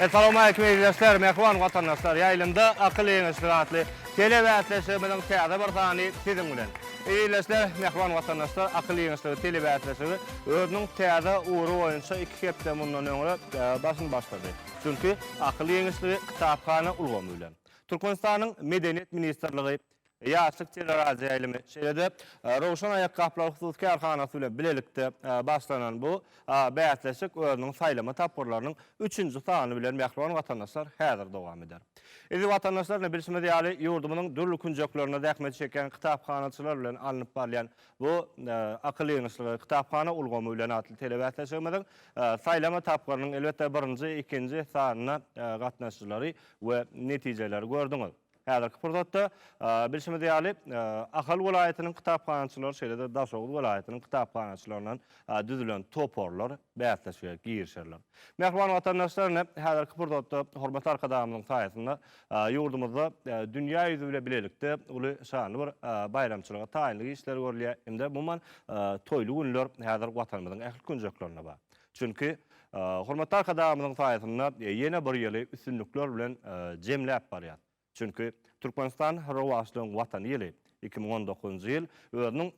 Essalawmaleýkim ildeşler, mähriban watandaşlar! Ýaýlymda akyl ýeňişligi atly telebäsleşigimiziň täze bir sany siziň bilen. Ildeşler, mähriban watandaşlar, akyl ýeňişligi telebäsleşigi özüniň täze ugry boýunça iki hepde mundan öňräk başyny başlady. Çünki akyl ýeňişligi kitaphana ulgamy bilen, Türkmenistanyň Medeniýet ministrligi, Ýaşlyk teleradioýaýlymy, şeýle-de Röwşen aýakgaplar hususy kärhanasy bilen bilelikde başlanan bu bäsleşik özüniň saýlama tapgyrlarynyň üçünji sany bilen mähriban watandaşlar häzir dowam eder. Eziz watandaşlar, ine bilşimiz ýaly ýurdumyzyň dürli künjeklerinde zähmet çekýän kitaphanaçylar bilen alnyp barylýan Bu Akyl ýygnaşlygy, kitaphana ulgamy bilen atly telebäsleşigimiziň saýlama tapgyrynyň, elbetde, birinji, ikinji sanyna gatnaşyjylary we netijeleri gördüňiz. Häzirki pursatda, bilşimiz ýaly, Ahal welaýatynyň kitaphanaçylary, şeýle-de Daşoguz welaýatynyň kitaphanaçylaryndan düzülen toparlar bäsleşige girişerler. Mähriban watandaşlar, ine, häzirki pursatda hormatly Arkadagymyzyň saýasynda Ýurdumyzda dünýä ýüzi bilen bilelikde uly şanly bir baýramçylyga taýynlyk işleri görülýär hem-de umuman toýly günler häzir Watanymyzyň ähli künjeklerinde bar. Çünki hormatly Arkadagymyzyň saýasynda ýene bir ýyly üstünlikler bilen jemläp barýas. Çünki Türkmenistan rowaçlygyň Watany ýyly, iki müň on dokuzynjy ýyl özüniň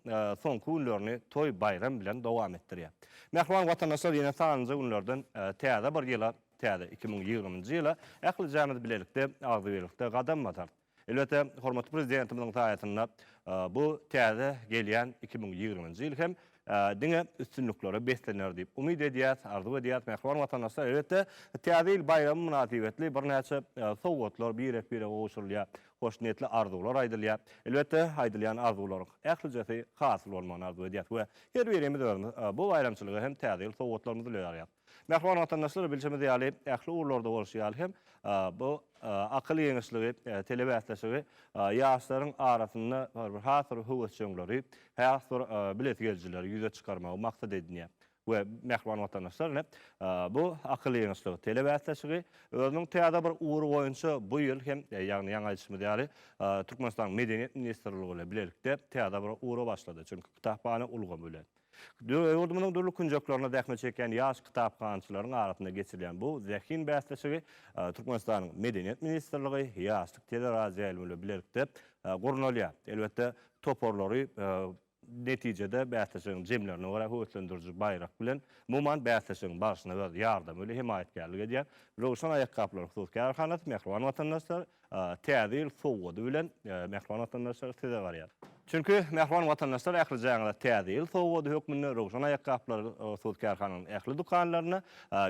soňky günlerini toý-baýram bilen dowam etdirýär. Mähriban watandaşlar ýene sanlyja günlerden täze bir ýyla Täze iki müň ýigriminji ýyla ählijämiz bilelikde, agzybirlikde gadam basarys. Elbetde, hormatly Prezidentimiziň saýasynda bu täze gelýän iki müň ýigriminji ýyl hem diňe üstünliklere beslener diýip umyt edýäs, arzuw edýäs. Mähriban watandaşlar, elbetde, Täze ýyl baýramy mynasybetli birnäçe sowgatlar birek-birege gowşurylýar, hoşniýetli arzuwlar aýdylýar. Elbetde, aýdylýan arzuwlaryň ählijesi hasyl bolmagyny arzuw edýäs we her birimiz özümiz bu baýramçylyga hem Täze ýyl sowgatlarymyzy ýaýarýas. Mähriban watandaşlar, bilşimiz ýaly, ähli ugurlarda bolşy ýaly hem, bu akyl ýeňişligi, telebäsleşigi ýaşlaryň arasynda bir has bir höwesjeňleri, has bir bilesigelijileri ýüze çykarmagy maksat edinýär. We, mähriban watandaşlar, ine, bu akyl ýeňişligi, telebäsleşigi özüniň täze bir ugry boýunça bu ýyl hem, ýagny ýaňy aýdyşymyz ýaly, Türkmenistanyň Medeniýet ministrligi bilen bilelikde täze bir ugra başlady. Çünki kitaphana ulgamy bilen. Ýurdumyzyň dürli künjeklerinde zähmet çekýän ýaş kitaphanaçylaryň arasynda geçirilýän bu zehin bäsleşigi Türkmenistanyň Medeniýet ministrligi, Ýaşlyk teleradioýaýlymy bilen bilelikde gurnalýar. Elbetde, toparlary netijede bäsleşigiň jemlerine görä höweslendiriji baýrak bilen, umuman, bäsleşigiň barşyna öz ýardamy bilen hemaýatkärlik edýän Röwşen aýakgaplar hususy kärhanasy, Mähriban watandaşlar, Täze ýyl sowgady bilen mähriban watandaşlar size garýar. Çünki mähriban watandaşlar ähli jaňyza Täze ýyl sowgady hökmünde Röwşen aýakgaplar söz kärhananyň ähli dükanlarynda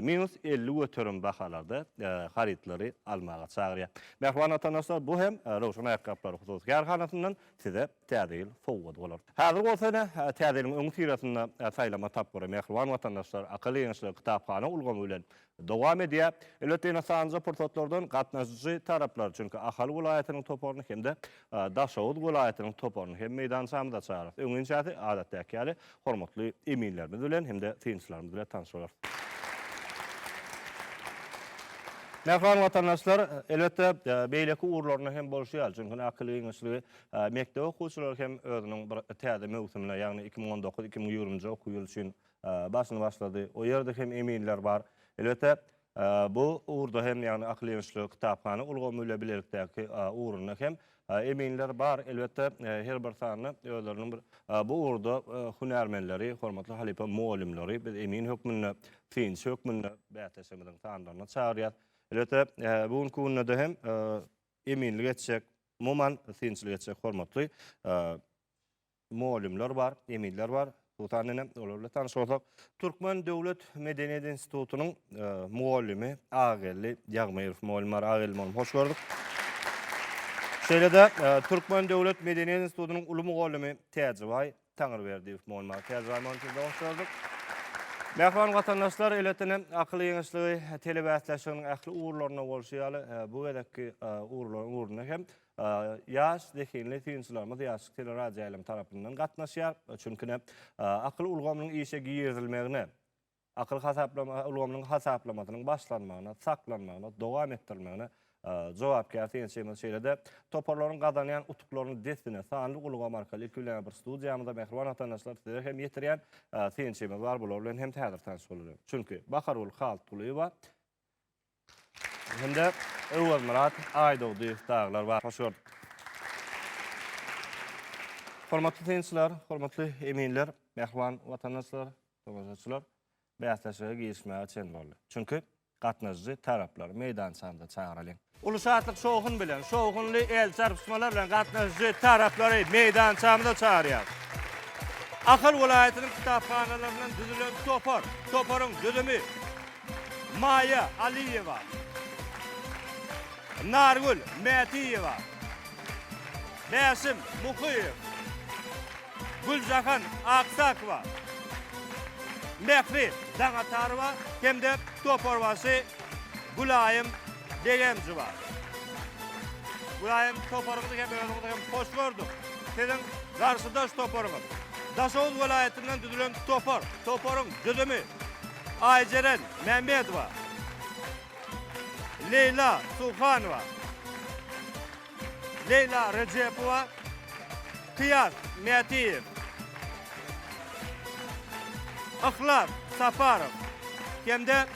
minus elli göterim bahalarda harytlary almaga çagyrýar. Mähriban watandaşlar bu hem Röwşen aýakgaplar hususy kärhanasyndan size Täze ýyl sowgady bolar. Häzir bolsa ine Täze ýylyň öňüsyrasynda saýlama tapgyry mähriban watandaşlar akylýeňiçli kitaphana ulgamy bilen Dowam edýär. Ilata ynsanjy pursatlardan gatnaşyjy taraplar, çünki Ahal welaýatynyň toparyny hem-de Daşoguz welaýatynyň toparyny hem meýdançamyza çagyrarys. Öňinçäsi, adatdaky ýaly, hormatly eminlerimiz bilen hem-de synçylarymyz bilen tanyş bolarys. Mähriban watandaşlar, elbetde, beýleki ugurlarynda hem bolşy ýaly, çünki indi Akyl giňişligi mekdep okuwçylary hem özüniň bir täze möwsümine, ýagny iki müň on dokuz, iki müň ýigrimi nji okuw ýyly üçin Başyny başlady. O ýerde hem eminler bar. Elbetde, bu ugurda hem, ýagny akyl ýöneşli kitaphana ulgamy bilen bilelikdäki ugrunda hem eminler bar. Elbetde, her bir sanda özleriniň bir bu ugurda hünärmenleri, hormatly halypa mugallymlary biz emin hökmünde, synçy hökmünde bäsleşigimiziň sanlaryna çagyrýas. Elbetde, bu günki günde-de hem eminlik etjek, umuman synçylyk etjek hormatly mugallymlar bar, emizler bar. Sutan nene, olar bilen tanyş bolsak. Türkmen döwlet medeniýet institutynyň mugallymy Ageldi Ýagmyrow mugallym bar. Ageldi mugallym, hoş gördük. Şeýle-de Türkmen döwlet medeniýet institutynyň uly mugallymy Täjibaý Taňyrberdiýew mugallym bar. Täjibaý mugallym, sizi-de hoş gördük. Mähriban watandaşlar, eletdene akyl ýeňişligi telebäsleşiginiň ähli ugurlarynda bolşy ýaly, bu gezekki ugurlaryň ugrunda hem Ýaş, zehinli synçylarymyz Ýaşlyk teleradioýaýlymy tarapyndan gatnaşýar. Çünki-ne, akyl ulgamynyň işe girizilmegine, akyl hasaplama ulgamynyň hasaplamasynyň başlanmagyna, saklanmagyna, dowam etdirilmegine jogapkär synçymyz. Şeýle-de toparlaryň gazanýan utuklaryny dessine sanly ulgam arkaly ilki bilen-ä bir studiýamyza, mähriban watandaşlar, size hem ýetirýän synçymyz bar. Bular bilen hem häzir tanyş bolalyň. Çünki, Bahargül Haltgulyýewa Hem-de Öwezmyrat Aýdogdyýew dagylar bar. Hoş gördük. Hormatly synçylar, hormatly eminler, mähriban watandaşlar, tomaşaçylar bäsleşige girişmäge çen boldy. Çünki gatnaşyjy taraplary meýdançamyza çagyralyň. Uly şatlyk-şowhun bilen, şowhunly el çarpyşmalar bilen gatnaşyjy taraplary meýdançamyza çagyrýarys. Ahal welaýatynyň kitaphanalaryndan düzülen topar. Toparyň düzümi. Maýa Aliýewa, Nargül Mätiýewa, Bäşim Muhyýew, Güljahan Aksakowa, Mähri Daňatarowa hem-de toparbaşy Gülaýym Begenjowa. Gülaýym, toparyňyzy hem özüňizi hem hoş gördük. Siziň garşydaş toparyňyz, Daşoguz welaýatyndan düzülen topar. Toparyň düzümi. Aýjeren Mämmedowa, Leýla Suhanowa, Leýla Rejepowa, Kyýas Mätiýew, Yhlas Saparow hem-de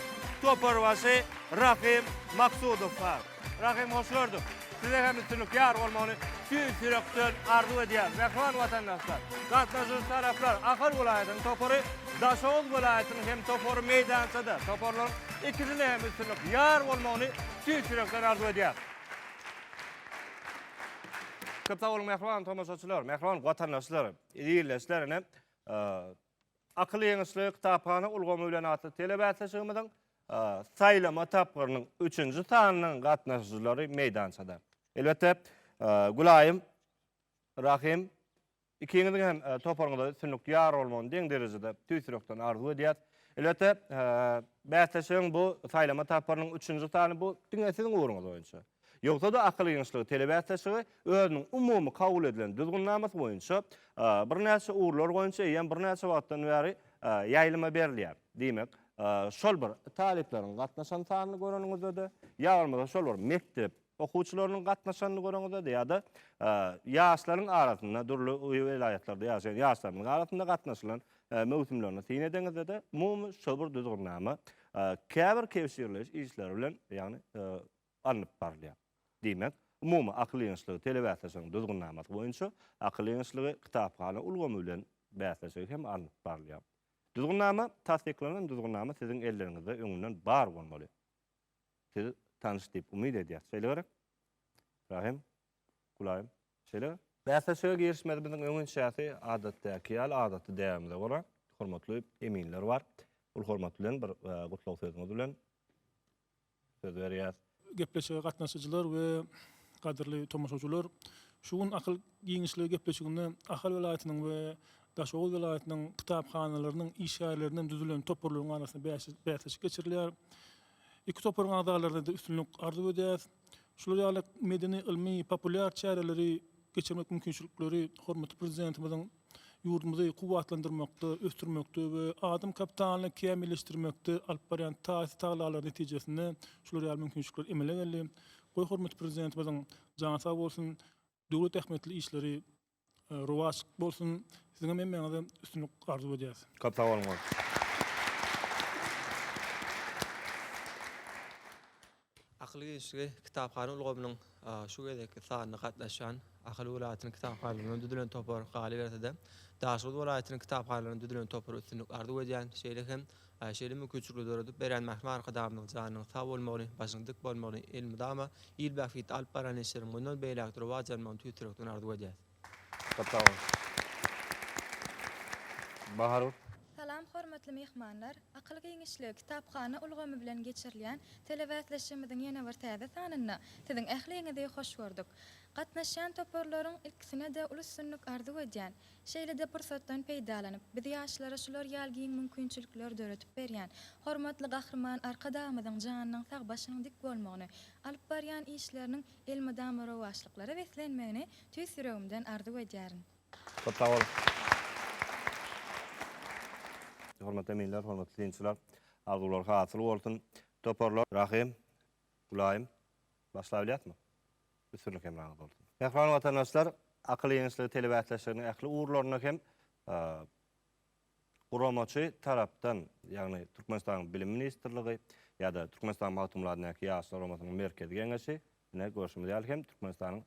toparbaşy Rahym Maksudowa. Rahym Hoşgördüw, Size hem üstünlik ýar bolmagyny tüýs ýürekden arzuw edýärin. Mähriban watandaşlar, gatnaşyjy taraplar, Ahal welaýatynyň topary, Daşoguz welaýatynyň hem topary meýdançada. Toparlaryň ikisine hem üstünlik ýar bolmagyny tüýs ýürekden arzuw edýärin. Köp sag boluň mähriban tomaşaçylar, mähriban watandaşlar, ildeşler ine. Akylýeňişli kitaphana ulgamy bilen atly telebäsleşigimiziň saýlama tapgyrynyň üçünji sanynyň gatnaşyjylary meýdançada. Elbetde, Gülaýym, Rahym, ikiňiziň hem toparyňyza üstünlik ýar bolmagyny deň derejede tüýs ýürekden arzuw edýäs. Elbetde, bäsleşigiň bu saýlama tapgyrynyň üçünji sany bu diňe siziň ugruňyz boýunça. Ýogsa-da akyl ýeňişligi telebäsleşigi özüniň umumy kabul edilen düzgünnamasy boýunça birnäçe ugurlar boýunça eýýäm birnäçe wagtdan bäri ýaýlyma berilýär. Diýmek, şol bir talyplaryň gatnaşan sanyny göreniňizde-de, ýa bolmasa şol bir mekdep okuwçylarynyň gatnaşanyny göreňizde-de ýa-da ýaşlaryň arasynda, dürli welaýatlarda ýaşaýan ýaşlarymyzyň arasynda gatnaşylan möwsümlerini syn edeňizde-de, umumy şol bir düzgünnama käbir kebşirleýiş işleri bilen, ýagny, alnyp barylýar. Diýmek, umumy akyl ýygynyşlygy telebäsleşigiň Düzgünnamasy boýunça akyl ýygynyşlygy kitaphana ulgamy bilen bäsleşigi hem alnyp barylýar. Düzgünnama Tassyklanan Düzgünnama siziň elleriňizde öňünden bar bolmaly. Siz tanyş diýip umyt edýäs. Şeýle gerek? Rahym, Gulaýym, şeýle? Bäsleşige girişmezimiziň öňençäsi adatdaky ýaly adaty däbimize görä hormatly eminler bar. Ol hormat bilen bir gutlag sözüňiz bilen söz berýär. Gepleşige gatnaşyjylar we gadyrly tomaşaçylar şu gün akyl giňişligi gepleşiginde Ahal welaýatynyň we Daşoguz welaýatynyň kitaphanalarynyň işgärlerinden düzülen toparlaryň arasynda bäsleşik geçirilýär. Iki toparyň agzalaryna-da üstünlik arzuw edýäris. Şular ýaly medeni-ylmy, populýar çäreleri geçirmek mümkinçilikleri hormatly Prezidentimiziň ýurdumyzy kuwwatlandyrmakda, ösdürmekde we adam kapitalyny kämilleşdirmekde alyp barýan taýsyz tagallalary netijesinde şular ýaly mümkinçilikler emele geldi. Goý, hormatly Prezidentimiziň jany sag bolsun, döwlet ähmiýetli işleri rowaç bolsun! Siziňem hemmäňize üstünlik arzuw edýäs. Köp sag boluň! Akyl giňişligi kitaphana ulgamynyň şu gezekki sanyna gatnaşýan Ahal welaýatynyň kitaphanalaryndan düzülen topar galyberse-de, Daşoguz welaýatynyň kitaphanalaryndan düzülen topar üstünlik arzuw edýän, şeýle hem şeýle mümkinçilikleri döredip berýän mährem Arkadagymyzyň janynyň sag bolmagyny, başynyň dik bolmagyny, elmydama il bähbitli alyp baran işleriň mundan beýläk-de rowaç almagyny tüýs ýürekden arzuw edýäs. Köp sag bol. Bahar. Salam hormatly myhmanlar! Akyl giňişligi kitaphana ulgamy bilen geçirilýän telebäsleşigimiziň ýene bir täze sanynda siziň ähliňizi hoş gördük. Gatnaşýan toparlaryň ilkisine-de uly üstünlik arzuw edýän. Şeýle-de pursatdan peýdalanyp, biz ýaşlara şular ýaly giň mümkinçilikleri döredip berýän hormatly Gahryman Arkadagymyzyň janynyň sag, başynyň dik bolmagyny, alyp barýan işleriniň elmydama rowaçlyklara beslenmegini Tüýs ýüregimden arzuw edýärin. Köp sag boluň. Hormatly eminler, hormatly synçylar! Arzuwlar hasyl bolsun! Toparlar, Rahym, Gülaýym, başlabilýäsmi? Üstünlik hemraňyz bolsun! Mähriban watandaşlar, Akyl ýeňişligi telebäsleşiginiň ähli ugurlarynda hem Guramaçy tarapdan, ýagny Türkmenistanyň Bilim ministrligi ýa-da Türkmenistanyň Magtymguladyndaky Ýaşlar guramasynyň Merkezi geňeşi, ine, görşümiz ýaly hem Türkmenistanyň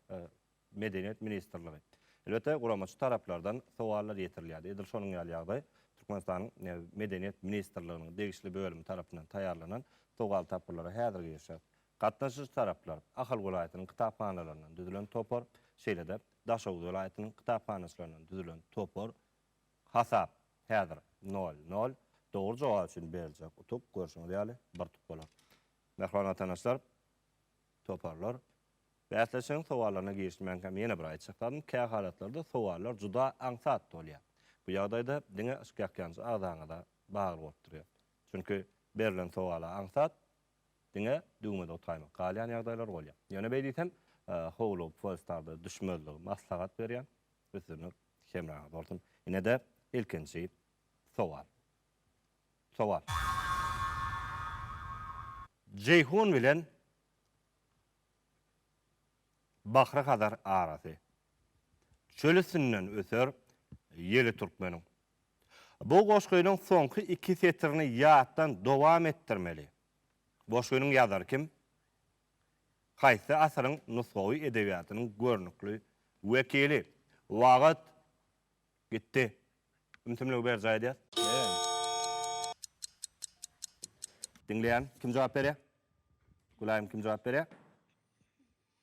Medeniýet ministrligi. Elbetde, guramaçy taraplardan sowallar ýetirilýärdi. Edil şonuň ýaly ýagdaý Türkmenistanyň Medeniýet ministrliginiň degişli bölümi tarapyndan taýýarlanan sowal tapgyrlara häzir girişýär. Gatnaşyjy taraplar, Ahal welaýatynyň kitaphanalaryndan düzülen topar, şeýle-de Daşoguz welaýatynyň kitaphanaçylaryndan düzülen topar, Hasap häzir nol, nol. Dogry jogap üçin beriljek utuk, görşüňiz ýaly, bir utuk bolar. Mähriban watanaşlar, toparlar, bäsleşigiň sowallaryna girişmänkäm ýene bir aýtjak zadym, kä halatlarda sowallar juda aňsat bolýar. Bu ýagdaýda diňe ýakýanjy agzaňyza bagly bolup durýar. Çünki berlen sowala aňsat diňe düwmede utgaýmak galýan ýagdaýlar bolýar. Ýöne beýdisem, howlugyp Wallstarda düşmezligi maslahat berýän. Üstünlik! Hemraňyz bolsun. Ine-de, ilkinji sowal. Sowal. Jeýhun bilen Bahry-Hazar arasy. Çöl üstünden öter ýeli türkmeniň. Bu goşgynyň soňky iki setirini ýatdan dowam etdirmeli. Goşgynyň ýazary kim? Haýsy asyryň nusgawy edebiýatynyň görnükli wekili? Wagt gitdi. Ümsümligi berjaý edýär. Diňleýän kim jogap berýär? Gülaýym kim jogap berýär?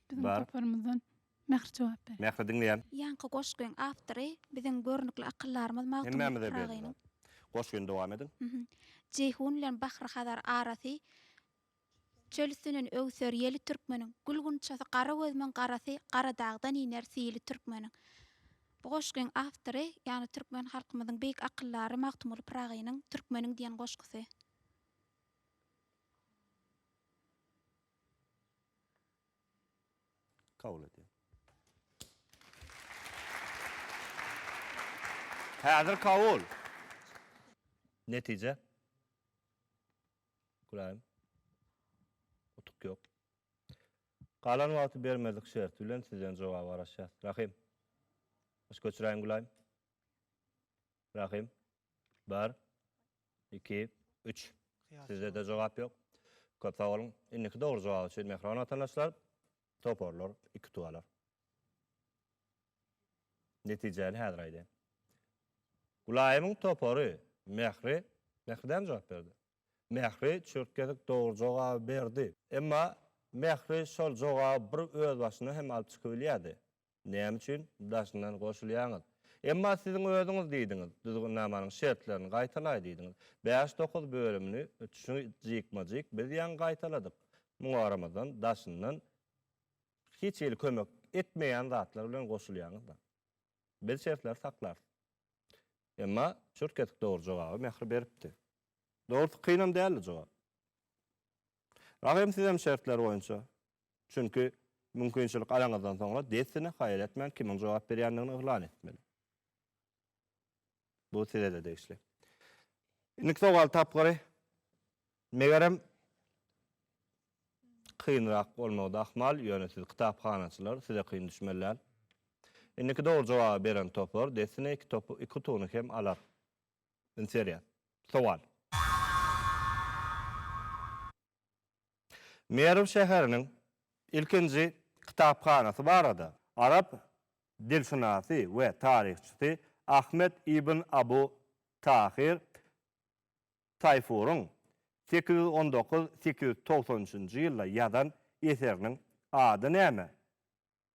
Biziň toparymyzdan Mähri jogap berýär. Mähri diňleýän. Ýaňky goşgyň awtory biziň görnükli akyldarymyz Magtymguly Pyragynyň. Hemmämize belli zat. Goşgyny dowam ediň. Jeýhun bilen Bahry Hazar arasy Çöl üstünden öwser ýeli türkmeniň, Gül gunçasy gara gözümiň garasy, Garadagdan iner sili türkmeniň. Bu goşgyň awtory, ýagny türkmen halkymyzyň beýik akyldary Magtymguly Pyragynyň Türkmeniň diýen goşgusy. Kabul edýän. Häzir kabul. Netije. Gülaýym. Utuk ýok. Galan wagty bermezlik şerti bilen sizden jogaba garaşýas. Rahym. Baş göçüräýiň Gülaýym. Rahym. Bir. Iki. Üç. Sizde-de jogap ýok. Köp sag boluň. Indiki dogry jogap üçin mähriban watandaşlar. Toparlar, iki tualar. Netijäni häzir aýdaýyn. Gulaýymyň topary Mähri, Mähri däl jogap berdi. Mähri çürtgedik dogry jogaby berdi. Emma Mähri şol jogaby bir özbaşyna hem alyp çykybilýärdi. Näme üçin daşyndan goşulýaňyz? Emma siziň özüňiz diýdiňiz, düzgünnamanyň şertlerini gaýtalaý diýdiňiz. Bäş-dokuz bölümini şu jikme-jik biz ýaňy gaýtaladyk. Muňa garamazdan, daşyndan hiç hili kömek etmeýän zatlar bilen goşulýaňyz-da. Biz şertleri saklarys. Emma çürt kesik dogry jogaby Mähri beripdi. Dogrusy kynam däldi jogap. Rahym sizem şertler boýunça Çünki mümkinçilik alaňyzdan soňra dessine haýal etmän kimiň jogap berýändigini yglan etmeli. Bu size-de degişli. Indiki sowal tapgyry megerem kynrak bolmagy da ahmal, ýöne siz kitaphanaçylar, size kyn düşmeli däl. Indiki dogry jogaby beren topar dessine iki topy, iki utugyny hem alar. Ünsi berýän. Sowal. Merw şäheriniň ilkinji kitaphanasy barada arap dilşynasy we taryhçysy Ahmet ibn Abu Tahyr Taýfuryň sekiz ýüz on dokuz-sekiz ýüz togsan üçünji ýylda ýazan eseriniň ady näme?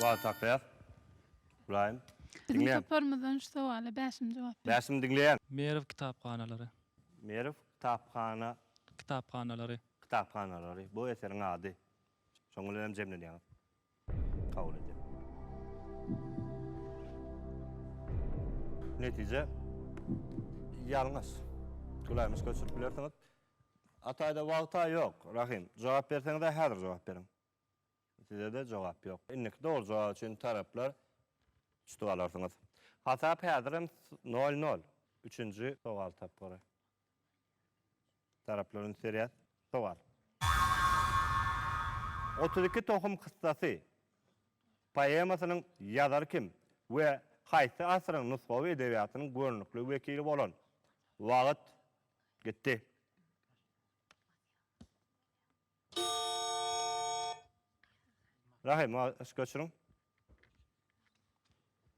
Wagt tapýas. Ybraýym. Biziň toparymyzdan şu sowala Bäşim jogap berdi. Bäşim diňleýän. Merw kitaphanalary. Merw kitaphana. Kitaphanalary. Kitaphanalary. Bu eseriň ady. Şoň bilen hem jemlenýäňiz. kabul edýär. Netije ýalňyş. Güläýmiş göçürip bilersiňiz. Ataýda wagta ýok, Rahym. Jogap berseňiz-ä häzir jogap beriň. Size-de jogap ýok. Indiki dogry jogap üçin taraplar tutup alarsyňyz. Hasap häzirem nol-nol. Üçünji sowal tapgyry. Taraplar üns berýär. Sowal. Otuz iki tohum kyssasy poemasynyň ýazary kim we haýsy asyryň nusgawy edebiýatynyň görnükli wekili bolan? Wagt gitdi. Rahim, ma ışk öçürin.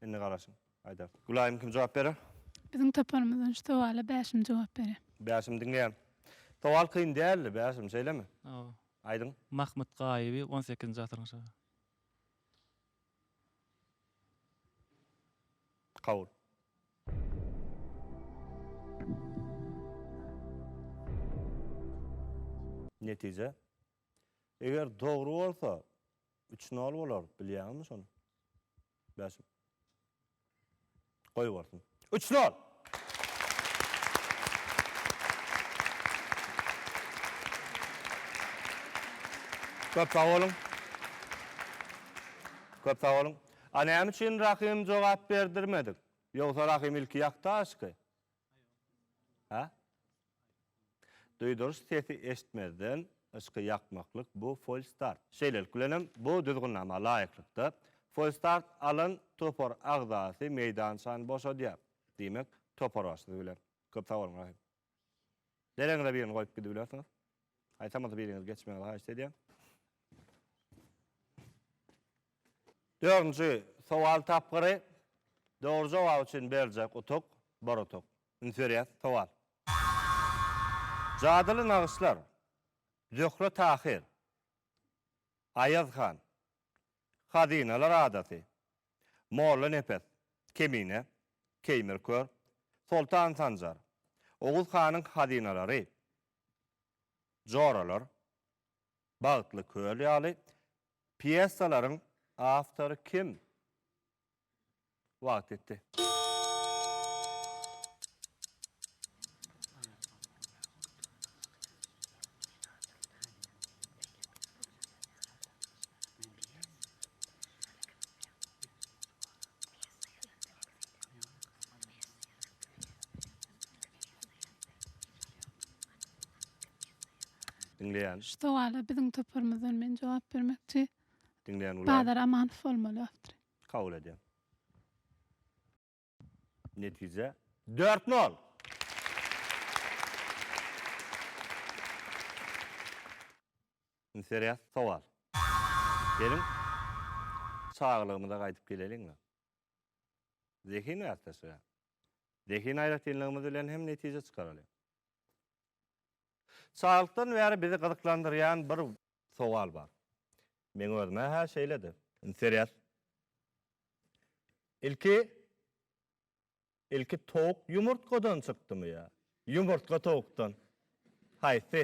Indi garaşyň. Aýda. Gülaýym kim jogap berer? Biziň toparymyzdan şu sowala Bäşim jogap berer. Bäşim diňleýän. Sowal kyn däldi, Bäşim, şeýlemi? Hawa. Aýdyň. Mahmyt Gaýyby on sekizinji asyryň şa. Kabul. Netije. Eger dogry bolsa, üç nol bolar, bilýäňizmi şony? Bäşim. Goý bolsun. Üç nol! Köp sag boluň. Köp sag boluň. A näme üçin Rahym jogap berdirmedik? Ýogsa Rahym ilki ýakdaşky. Hä? Duýduryş sesi eşitmezden yşky ýakmaklyk bu Folstart. Şeýlelik bilenem bu düzgünnama laýyklykda Folstart alan topar agzasy meýdançany boşadýar. Diýmek, topar başysy bilen. Köp sag boluň Rahym. Deregiňize birini goýup gidibilersiňiz. Haýsam bolsa biriňiz geçmegiňizi haýyşt edýän. Dördünji sowal tapgyry dogry jogap üçin beriljek utuk, bir utuk. Üns berýäs, sowal. Jadyly nagyşlar, Zöhre Tahyr, Aýaz han, Hazynalar adasy, Molla Nepes, Kemine, Keýmir kör, Soltan Sanjar, Oguz hanyň hazynalary, Joralar, Bagtly köl ýaly Pýesalaryň awtory kim? Wagt ýetdi. Diňleýän. Şu sowala biziň toparymyzdan men jogap bermekçi. Diňleýän Gulaý. Bazar Amanow bolmaly awtor. Kabul edýän. Netije dört nol. Indi serýaz sowal. Geliň çagalygymyza gaýdyp geleliňmi? Zehin gartaşyga. Zehin aýratynlygymyz bilen hem netije çykaralyň. Çaglykdan bäri bizi gyzyklandyrýan bir sowal bar. Meň özüme-hä şeýledi. Interes. Ilki Ilki towuk ýumurtgadan çykdymy ýa ýumurtga towukdan? Haýsy?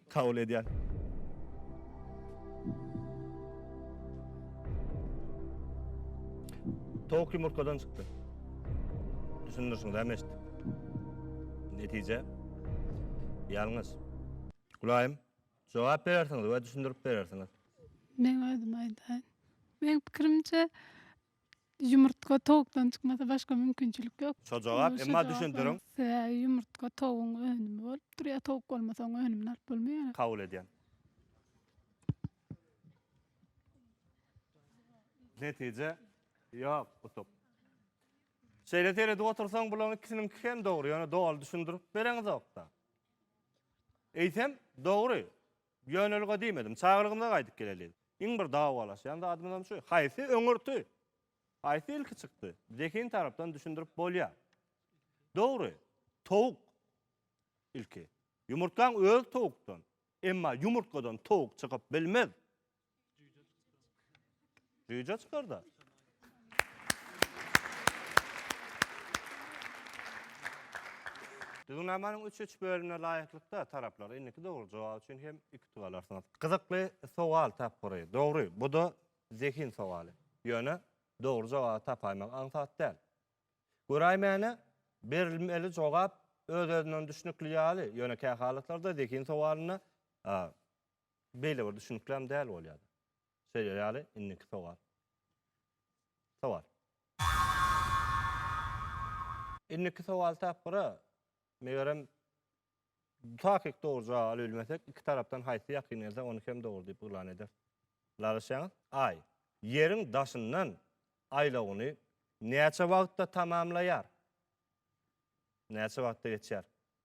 Kabul edýän. Towuk ýumurtgadan çykdy. Düşündirişiňizi hem eşitdik. Netije ýalňyş. Gulaýym, jogap berersiňiz we düşündirip berersiňiz. Meň özüm aýdaýyn. Meň pikirimçe, Ýumurtga towukdan çykmasa başga mümkinçilik ýok. Şo jogap, emma düşündiriň. Sebäbi ýumurtga towugyň önümi bolup durýar, towuk bolmasa oň önümini alyp bolmaýar. Kabul edýän. Netije, ýok, utuk. Şeýle seredip otursaň bulaň ikisiniňki hem dogry, ýöne doly düşündirip bereňizok-da. Eýsem, dogry. Ýönelige diýmedim. Çagalygymyza gaýdyp geleliň. Iň bir dawalaşýan zadymyzam şu. Haýsy öňürti? Haýsy ilki çykdy? Zehin tarapdan düşündirip bolýar. Dogry, towuk ilki. Ýumurtgaň özi towukdan. Emma ýumurtgadan towuk çykyp bilmez. Jüýje çykdy. Jüýje çykarda. Düzgünnamanyň üç-üç bölümine laýyklykda taraplar indiki dogry jogap üçin hem iki utuk alarsyňyz. Gyzykly sowal tapgyry. Dogry, bu-da zehin sowaly. Ýöne dogry jogaby tapaýmak aňsat däl. Göräýmäne, berilmeli jogap öz-özünden düşnükli ýaly, ýöne kähalatlarda zehin sowalynda Beýle bir düşünikläm däl bolýar. Şeýle ýaly, indiki sowal. Sowal. Indiki sowal tapgyra, megerem, takyk dogry jogap alyp bilmesek, iki tarapdan haýsy ýakyn gelse, ony hem dogry diýip yglan ederis. Ylalaşýaňyz? Aý, Ýeriň daşyndan aýlawyny näçe wagtda tamamlaýar? Näçe wagtda geçýär?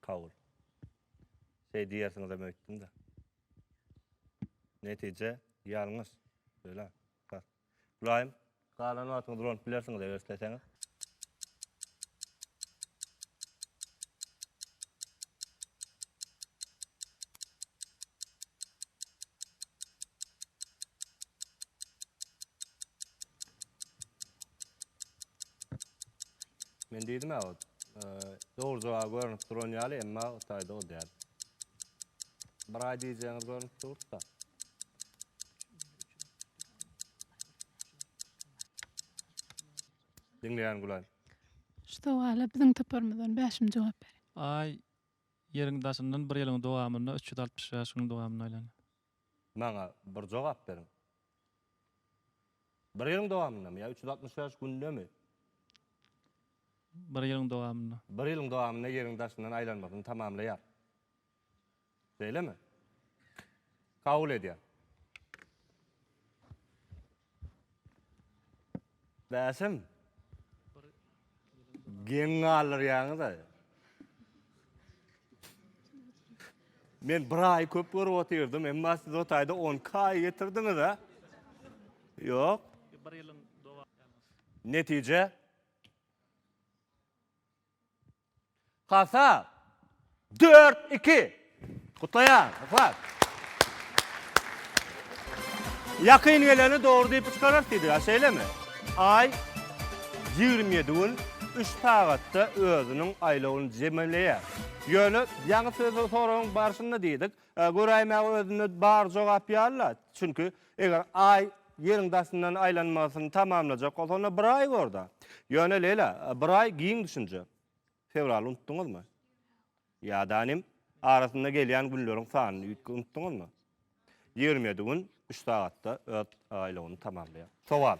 Kabul. Şeý diýersiňizem öýtdüm-de. Netije ýalňyş. Öýlä. Bar. Gulaýym. Galan wagtyňyz ulanyp bilersiňiz eger isleseňiz. Men dedim ya o doğru cevap görünüp duran yalı emma otayda o değer. Bir ay diyeceğiniz görünüp durdu da. Dinleyen Gülay. Şu sowala biziň toparymyzdan Bäşim jogap ber. Ay ýeriň daşyndan bir ýylyň dowamynda 365 gün dowamynda aýlanýar. Maňa bir jogap beriň. Bir ýylyň dowamyndamy ýa üç ýüz altmyş bäş gündemi? Bir ýylyň dowamynda. Bir ýylyň dowamynda Ýeriň daşyndan aýlanmasyny tamamlaýar. Şeýlemi? Kabul edýän. Bäşim. Geň galdyrýaňyz-a. Men bir aý köp görüp otyrdym, emma siz o taýda 10 kaý getirdiňiz-a. Ýok. Netije? Hasa! Dört, iki! Gutlaýan! Yhlas! Ýakyn geleni dogry diýip çykarar Sidra, şeýlemi? Aý ýigrimi ýedi gün, üç sagatda özüniň aýlawyny jemleýär. Ýöne ýaňy söz-soragyň barşynda diýdik, göräýmäge özünde bar jogap ýaly-la, çünki Eger Aý Ýeriň daşyndan aýlanmasyny tamamlajak bolsa, onda bir aý bor-da. Ýöne, Leýla, bir aý giň düşünje. Fewraly unutdyňyzmy? Ýa-da nim, arasynda gelýän günleriň sanyny unutdyňyzmy? Ýigrimi ýedi gün üç sagatda öz aýlawyny tamamlaýar. Sowal.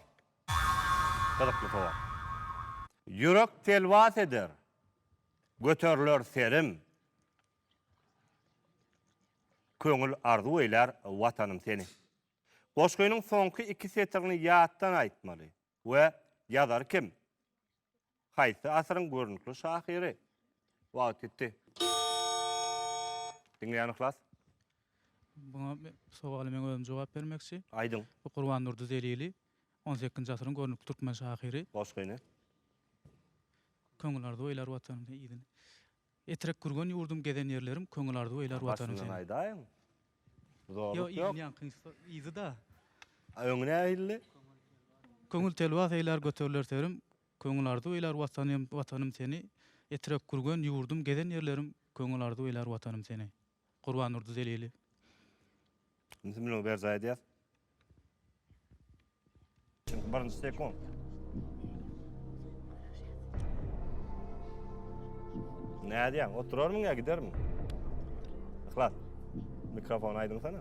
Gyzykly sowal. Ýürek telwas eder. Göteriler serim. Köňül arzuw eýlär Watanym seni. Goşgynyň soňky iki setirini ýatdan aýtmaly. We ýazary kim? Haýsy asyryň görnükli şahyry? Wagt ýitdi. Diňleýän yhlas. Buňa sowaly men özüm jogap bermekçi. Aýdyň. Bu Gurbandurdy Zelili, on sekizinji asyryň görnükli türkmen şahyry. Goşgyny. Köňül arzuw eýlär Watanym seni. Etrek gürgen ýurdum gezen ýerlerim köňül arzuw eýlär watanyn seniň. Başyndan aýdaýyň. Zorluk ýok. Ýok yzyňkyňky yzyda. A öňi nähilli? Köňül telwas eýlär göteriler serim köňül arzuw eýlär watanym watanym seni Etrek gürgen ýurdum gezen ýerlerim köňül arzuw eýlär watanym seni. Gurbandurdy Zelili. Indi müň berjaý edýäs. Çünki birinji sekund. Nädýäň? Oturarmyň ýa gidermiň? Yhlas. Mikrofon aýdyňsana.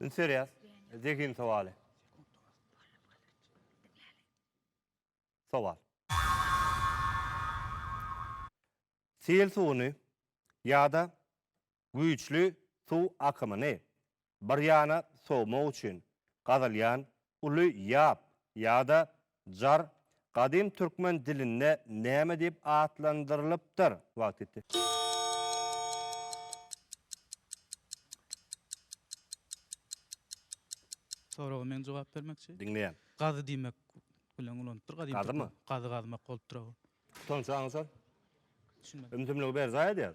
Interýas, zehin sowaly. Sowal. Sel suwuny ýa-da güýçli suw akymyny bir ýana sowmak üçin gazylýan uly ýap ýa-da Jar gadym türkmen dilinde näme diýip atlandyrylypdyr? Wagt ýetdi. Soraga men jogap bermekçi. Diňleýän. Gazy diýmek bilen ulanypdyr gadym türkmen. Gazymy? Gazy gazmak bolupdyr ow. Soňçy aňsat. Düşünmedim. Ümsümligi berjaý edýär.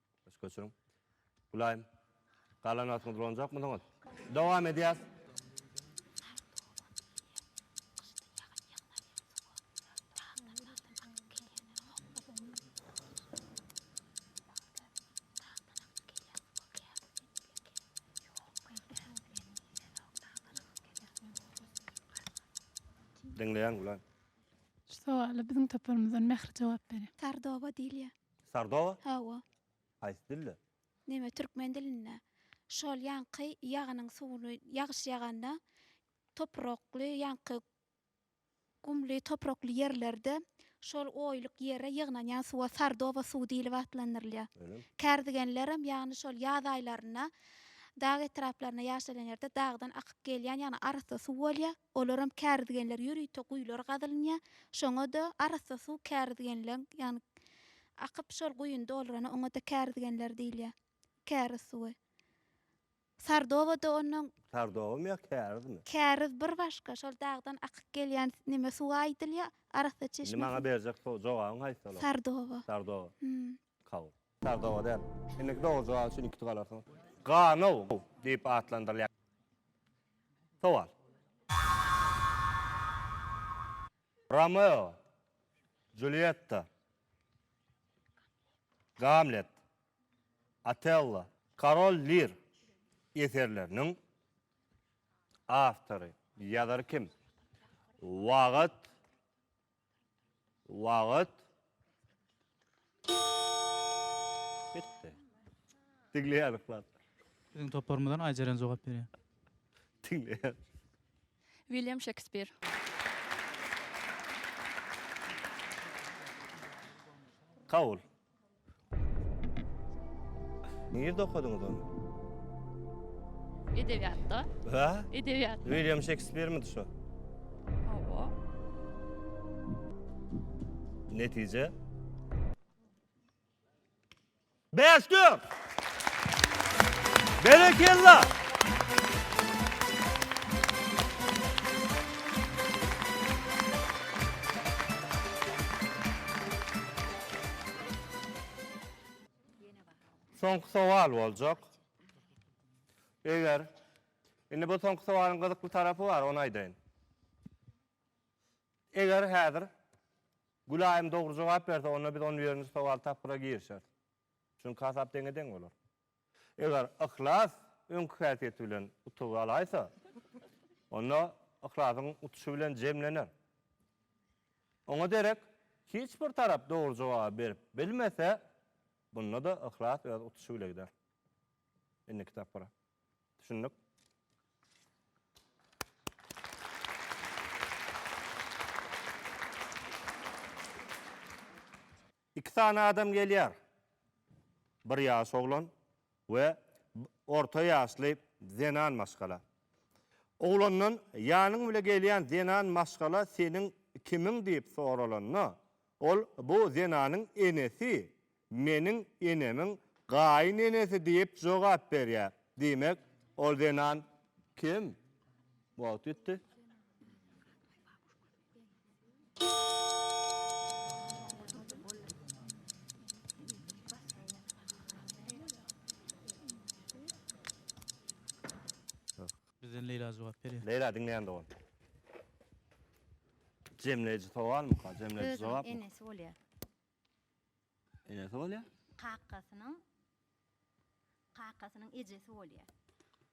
Baş göçüriň. Gulaýym. Galanasyňyzy ulanjakmysyňyz? Dowam edýäs. Diňleýän Gulaýym. Şu sowala biziň toparymyzdan Mähri jogap berýär. Sardoba diýilýär. Sardoba? Hawa. Haýsy dilde? Neme türkmen dilinde. Şol ýaňky ýagynyň suwuny ýagyş ýaganda toprakly ýaňky gumly toprakly ýerlerde şol oýluk ýere ýygnanýan suwa sardoba suwy diýlip atlandyrylýar. Öýlemi? Kärdegenlerem ýagny şol ýaz aýlarynda dag etraplaryna ýaşaýan ýerde dagdan akyp gelýän ýagny arassa suw bolýar. Olaram kärizgenler ýörite guýular gazylynýar. Şoňa-da arassa suw kärizgenleň, ýagny akyp şol guýyny doldurana oňa-da kärizgenler diýilýär. Käriz suwy. Sardoba-da onnoň. Sardobamy ýa kärizmi? Käriz bir başga, şol dagdan akyk gelýän neme suwa aýdylýar, arassa çeşme suw. Indi maňa berjek jogabyň haýsy olar? Sardoba. Sardoba. Kal. Tar doga däl. Indiki dogry jogap üçin iki pul alarsyň. Ganow diýip atlandyrylýar. Sowal. Romeo, Julietta, Gamlet, Otello. Karol Lir eserleriniň awtory, ýazary kim? Wagt Wagt. Bitti. Diňle ýazyklar. Biziň toparymyzdan Aýjeren jogap berýär. Diňle. William Şekspir. Kabul. Nirde okadyňyz ony? Edebiýatda. Ha? Edebiýat. William Shakespeare-mi şu? Hawa. Netije? Beşdir! Berekella! Soňky sowal boljak. Eger Indi bu soňky sowalyň gyzykly tarapy bar, ony aýdaýyn. Eger häzir Gülaýym dogry jogap berse, onda biz on birinji sowal tapgyra girişeris. Çünki hasap deňe-deň bolar. Eger yhlas öňki häsiýeti bilen utugy alaýsa, onda yhlasyň utuşy bilen jemlener. Oňa derek hiç bir tarap dogry jogaby berip bilmese, bunda-da yhlas öz utuşy bile gider. Indiki tapgyra. Düşündik? Iki sany adam gelýär. Bir ýaş oglan we orta ýaşly zenan maşgala. Oglandan ýanyň bile gelýän zenan maşgala seniň kimiň diýip soralanda, ol bu zenanyň enesi, meniň enemiň gaýyn enesi diýip jogap berýär. Diýmek, ol zenan kim? Wagt ýetdi. Bizden Leyla jogap berýär. Leyla diňleýän dogan. Jemleýji sowalmyka? Jemleýji Özüniň jogapmy? enesi bolýar. Enesi bolýar. Kakasynyň kakasynyň ejesi bolýar.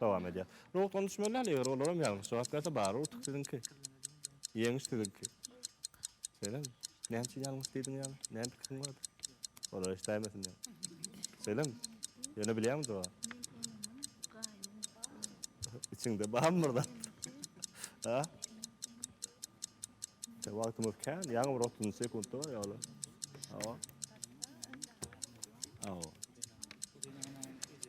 Dowam edýär. Nobatdan düşmeli däl, eger olaram ýalňyş jogap berse, bary utuk siziňki. Ýeňiş siziňki. Şeýlemi? Näme üçin ýalňyş diýdiň ýaly? Näme pikiriň bardy? Olar eşdäýmesin diýip. Şeýlemi? Ýöne bilýäňmi jogaby? Içiňde barmy bir zat? Ha? Wagtymyz kän, ýaňy bir 30 sekuntda bar ýaly. Hawa. Hawa.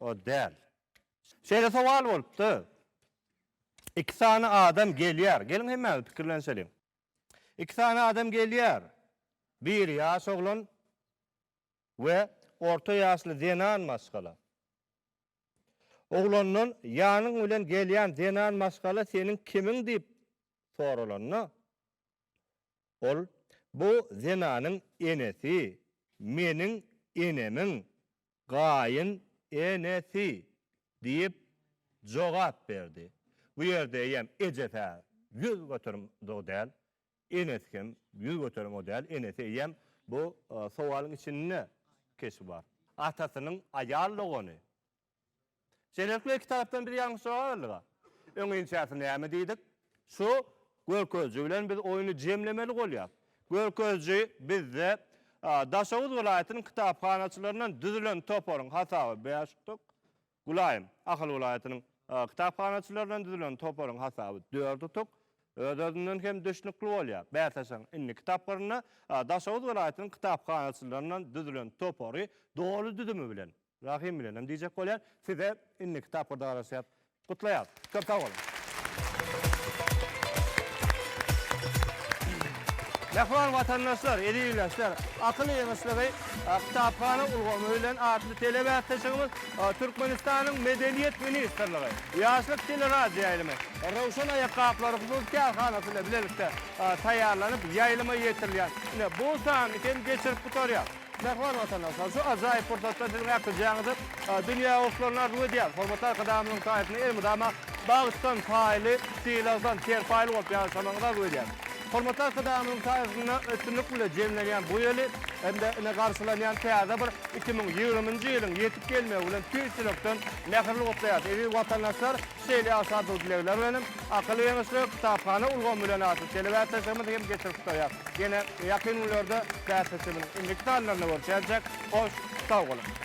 O däl. Şeýle sowal bolupdy. Iki sany adam gelýär. Geliň hemmäňiz pikirlenişeliň. Iki sany adam gelýär. Biri ýaş oglan we orta ýaşly zenan maşgala. Oglandan ýanyň bilen gelýän zenan maşgala seniň kimiň diýip soralanda, ol bu zenanyň enesi meniň enemiň Gaýyn enesi, diýip, jogap berdi. Bu ýerde eýýäm ejes-ä ýüz göterimde-u däl, enesi hem ýüz göterim-u däl, enesi eýýäm bu sowalyň içinde keşbi bar. Atasynyň aýal dogany, Şeýlelikde, iki tarapdan biz ýalňyş jogap berdik-a. Öň inçäsi näme diýdik? Şu görkeziji bilen biz oýny jemlemeli bolýar. Görkeziji bizde Daşoguz welaýatynyň kitaphanaçylaryndan düzülen toparyň hasaby bäş utuk, Gülaýym, Ahal welaýatynyň kitaphanaçylaryndan düzülen toparyň hasaby dört utuk, öz-özünden hem düşnükli bolýar. Bäsleşigiň indiki tapgyrynda Daşoguz welaýatynyň kitaphanaçylaryndan düzülen topary doly düzümi bilen, Rahym bilenem diýjek bolýan. Size indiki tapgyrda garaşýas. Gutlaýas. Köp sag boluň. Mähriban watandaşlar, eziz ildeşler, Akyl ýygyşlygy kitaphana ulgamy bilen atly telebäsleşigimiz Türkmenistanyň Medeniýet ministrligi, Ýaşlyk teleradioýaýlymy, Röwşen aýakgaplary hususy kärhanasy bilen bilelikde taýýarlanyp ýaýlyma ýetirilýär. Ine, bu sany hem geçirip gutarýas. Mähriban watandaşlar, şu ajaýyp pursatda siziň äkidýäňizi dünýä goşlaryna arzuw edýäris. Hormatly Arkadagymyzyň saýasynda elmydama bagtdan paýly, sylagdan ter paýly bolup ýaşamagyňyzy arzuw edýäris. Hormatly Arkadagymyzyň saýasynda üstünlik bilen jemlenýän bu ýyly hem-de ine garşylanýan täze bir iki müň ýigrimi nji ýylyň ýetip gelmegi bilen tüýs ýürekden mähirli gutlaýarys. Eziz watandaşlar! Şeýle ýagşy-arzuw dilegler bilen hem Akyl Geňeşligi kitaphana ulgamy bilen atly telebäsleşigimizi hem geçirip gutarýas. Ýene ýakyn günlerde bäsleşigimiziň indiki sanlarynda görşäýjek. Hoş sag boluň!